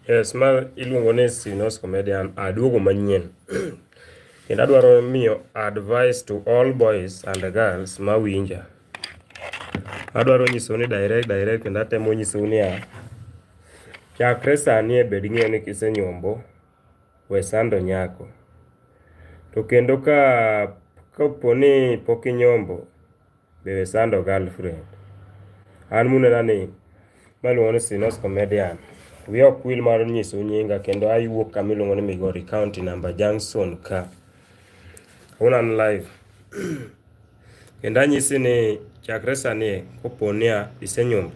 Yes, ma iluongo ni Sinos Comedian aduogo manyien. Kendo adwaro miyo advice to all boys and girls ma winja. Adwaro nyisou ni direct direct kendo atemo nyisou niya, chakre sani e bed ing'eyo ni kisenyombo we sando nyako. To kendo ka kapo ni pok inyombo be we sando girlfriend. An munena ni maluongo ni Sinos Comedian. We ok wil mar nyiso nyinga kendo ayuok kama iluongo ni Migori County number Junction ka. Unan live. Kendo anyisi ni chakre sani kopo niya isenyombo,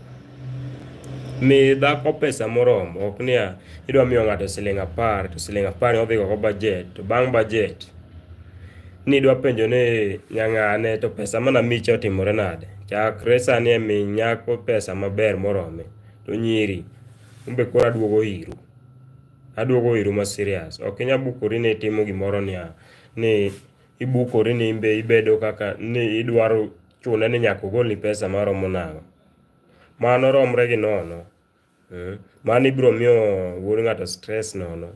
mi dhako pesa moromo, ok niya idwa miyo ng'ato siling' apar to siling' apar odhi go bajet to bang' bajet ni idwa penjo ni nyang'ane to pesa mana micha otimore nade. Chakre sani e mi nyako pesa maber morome to nyiri umbe koro aduogo iru aduogo iru ma serious ok inya bukori ni itimo gimoro niya ni ibukori ni imbe ibedo kaka ni idwaro chune ni nyaka ogolni pesa maromo nang'o. Mano romre gi nono. Hmm. Mano ibiro miyo wuod ng'ato stress nono.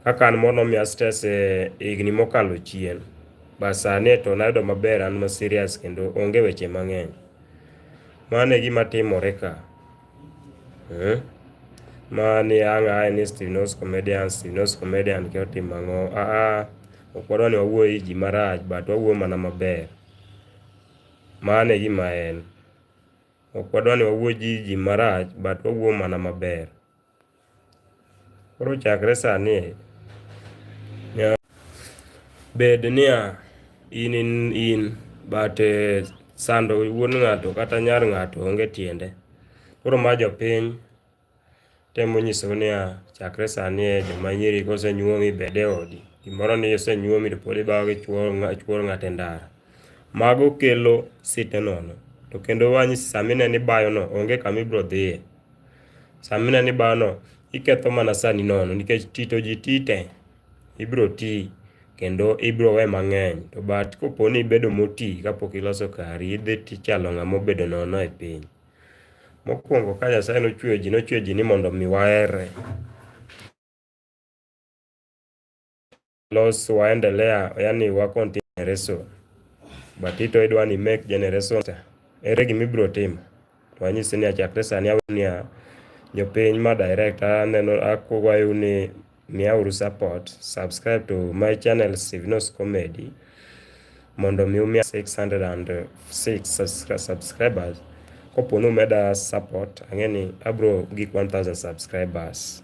Kaka an moro nomiya stress e higni mokalo chien. Bas sani to nayudo maber an ma serious kendo onge weche mang'eny. Mano e gima timore ka. Hmm? Ma ni ang' ae ni Steve Knows Comedian, Steve Knows Comedian ke otimo ang'o? Ah, ah, ok wadwa ni wawuo e ji marach, but wawuo mana maber. Mano e gima en. Ok wadwa ni wawuo ji ji marach, but wawuo mana maber. Koro chakre sani bed niya in in in but eh, sando wuon ng'ato kata nyar ng'ato onge tiende. Koro ma jopiny temo nyiso niya chakre sani e joma nyiri kosenyuomi bed e odi gimoro ni osenyuomi to pod ibawo gi chuor ng'ato e ndara. Mago kelo site nono to kendo wanyisi sama ineno ibayono onge kama ibiro dhiye. Sama ineno ni bawno iketho mana sani nono nikech tito ji tite, ibiro ti kendo ibiro we mang'eny. To but kopo ni ibedo moti kapok iloso kari, idhi tichalo ng'ama obedo nono e piny. Mokwongo ka Nyasaye nochweyo ji, nochweyo ji ni mondo mi waherre. los waendelea yani wa continue generation but ito idwa ni make generation ere gima ibiro timo to anyisi ni achakre sani awe ni jopiny ma direct aneno akwayo ni miyauru support subscribe to my channel Sivinos Comedy mondo mi umiya 606 subscribers kopo ni umeda support ang'e ni abro gik 1000 subscribers